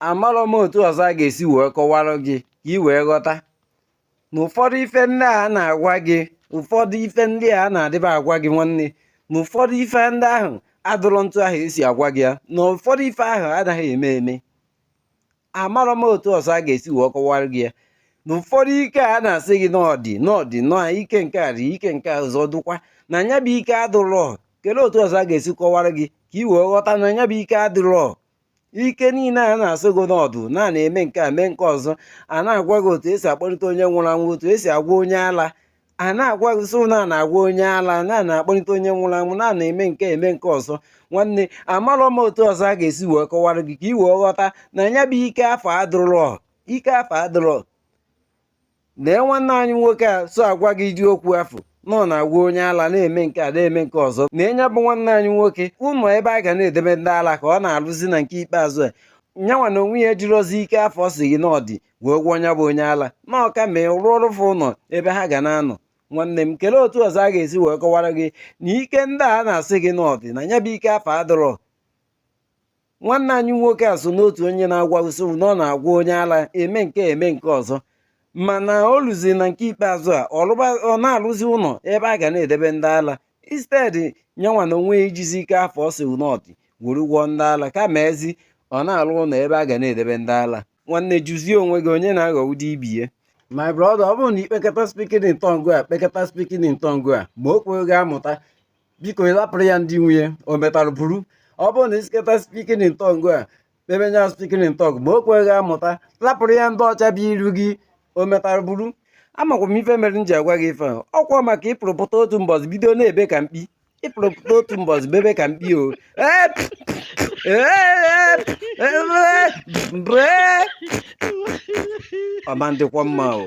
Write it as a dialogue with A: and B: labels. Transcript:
A: amarọ m otu ọzọ a ga-esi wee kọwara gị ka ị wee ghọta na ụfọdụ ife ndị a na-agwa gị ụfọdụ ife ndị a na-adịba agwa gị nwanne na ụfọdụ ife ndị ahụ adụrọ otu ahụ e si agwa gị ya na ụfọdụ ife ahụ anaghị eme eme amarọ m otu ọzọ a ga-esi wee kọwara gị ya na ụfọdụ ike a na-asị gị na ọ dị na ọ dị na ike nke a dị ike nke ọzọ dụkwa na nya bụ ike adụrọ kelee otu ọzọ a ga-esi kọwara gị ka ị wee ghọta na nya bụ ike adịrọ ike niine a na-asị gị na ọ dụ na a na-eme nke a mee nke ọzọ a na-agwa gị otu e si akpọlite onye nwụrụ anwụ otu e si agwọ onye ala a na-agwa gị sị na a na-agwọ onye ala na a na-akpọlite onye nwụrụ anwụ na a na-eme nke a eme nke ọzọ nwanne amarọ m otu ọzọ a ga-esi wee kọwara gị ka ị wee ghọta na ya bụ ike afụ adụrọ ike afụ adụrọ lee nwanne anyị nwoke a so agwa gị ụdị okwu afụ na ọ na-agwọ onye ala na-eme nke a na-eme nke ọzọ na nya bụ nwanne anyị nwoke ụnọ ebe a ga na-edebe ndị ala ka ọ na-alụzi na nke ikpeazụ a nyanwa na onwe ya ejirọzi ike afụ ọ sị gị na ọ dị wee gwọọ nya bụ onye ala na ọ kama a rụọrọ fa ụnọ ebe ha ga na-anọ nwanne m kelee otu ọzọ a ga-esi wee kọwara gị na ike ndị a na-asị gị na ọ dị na nya bụ ike afụ adụrọ nwanne anyị nwoke a so n'otu onye na-agwa gị sị na ọ na-agwọ onye ala eme nke a eme nke ọzọ mana o luzi na nke ikpeazụ a ọ na-alụzi ụnọ ebe a ga na-edebe ndị ala instead nyanwa na onwe ya ijizi ike afụ ọ sị na ọ dị were gwọọ ndị ala kamazi ọ na-alụ ụnọ ebe a ga na-edebe ndị ala nwanne jụzie onwe gị onye na-aghọgbu ibie my brother ọ bụrụ na i kpekata speaking in tongue e kpekata speaking in tongue ma o kweghị amụta biko lapụrụ ya ndị nwe ya o metara buru ọ bụrụ na ị sụkata speaking in tongue a kpebenya speaking in tongue ma o kweghị amụta lapụrụ ya ndị ọcha bụ iru gị o metara buru amakwa m ife mere m ji agwa gị ife ahụ ọkwa maka ị pụrụ pụta otu mbọsị bido na-ebe ka mkpi ị pụrụ pụta otu mbọsị bebe ka mkpi o ọ ma adịkwa mma o